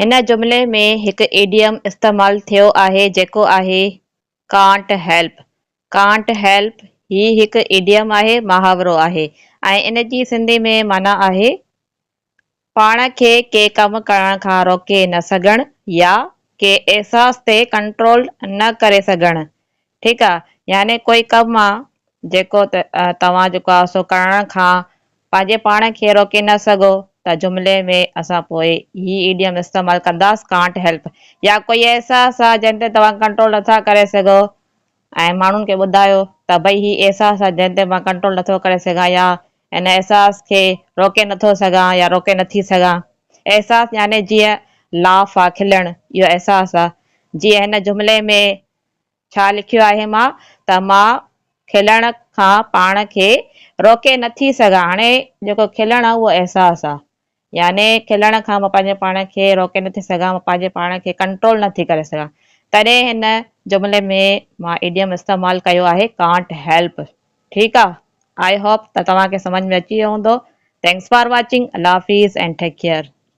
هن جملي ۾ هڪ ايڊيم استعمال ٿيو آهي جيڪو آهي Can't help. Can't help هي هڪ ايڊيم آهي، محاورو آهي، ۽ ان جي سنڌي ۾ معنيٰ آهي پاڻ کي ڪي ڪم ڪرڻ کان روڪي نه سگهڻ يا ڪي احساس تي ڪنٽرول نه ڪري سگهڻ. ٺيڪ آ يعني ڪوئي ڪم آ جيڪو توهان جيڪو آ سو ڪرڻ کان پنهنجي پاڻ کي روڪي نه سگهو ته جملي ۾ اسان پوء هي ايڊيم استعمال ڪنداس ڪانٽ هيلپ يا ڪوئي احساس آ جنهن تي توهان ڪنٽرول نٿا ڪري سگهو ۽ ماڻهن کي ٻڌايو ته ڀئي هي احساس آ جنهن تي مان ڪنٽرول نٿو ڪري سگهان يا ان احساس کي روڪي نٿو سگهان يا روڪي نٿي سگهان احساس يعني جيئن لاف آ کلڻ اهو احساس آ جيئن هن جملي ۾ ڇا لکيو آهي مان ته مان کلڻ کان پاڻ کي روڪي نه ٿي سگهان هاڻي جيڪو کلڻ آ اهو احساس آ يعني کلڻ کان مان پنهنجي پاڻ کي روڪي نه ٿي سگهان مان پنهنجي پاڻ کي ڪنٽرول نه ٿي ڪري سگهان تڏهن هن جملي ۾ مان ايڊيم استعمال ڪيو آهي ڪانٽ هيلپ ٺيڪ آ آئي هوپ ته توهان کي سمجهه ۾ اچي ويو هوندو ٿينڪس فار واچنگ الله حافيظ اينڊ ٽيڪ ڪيئر.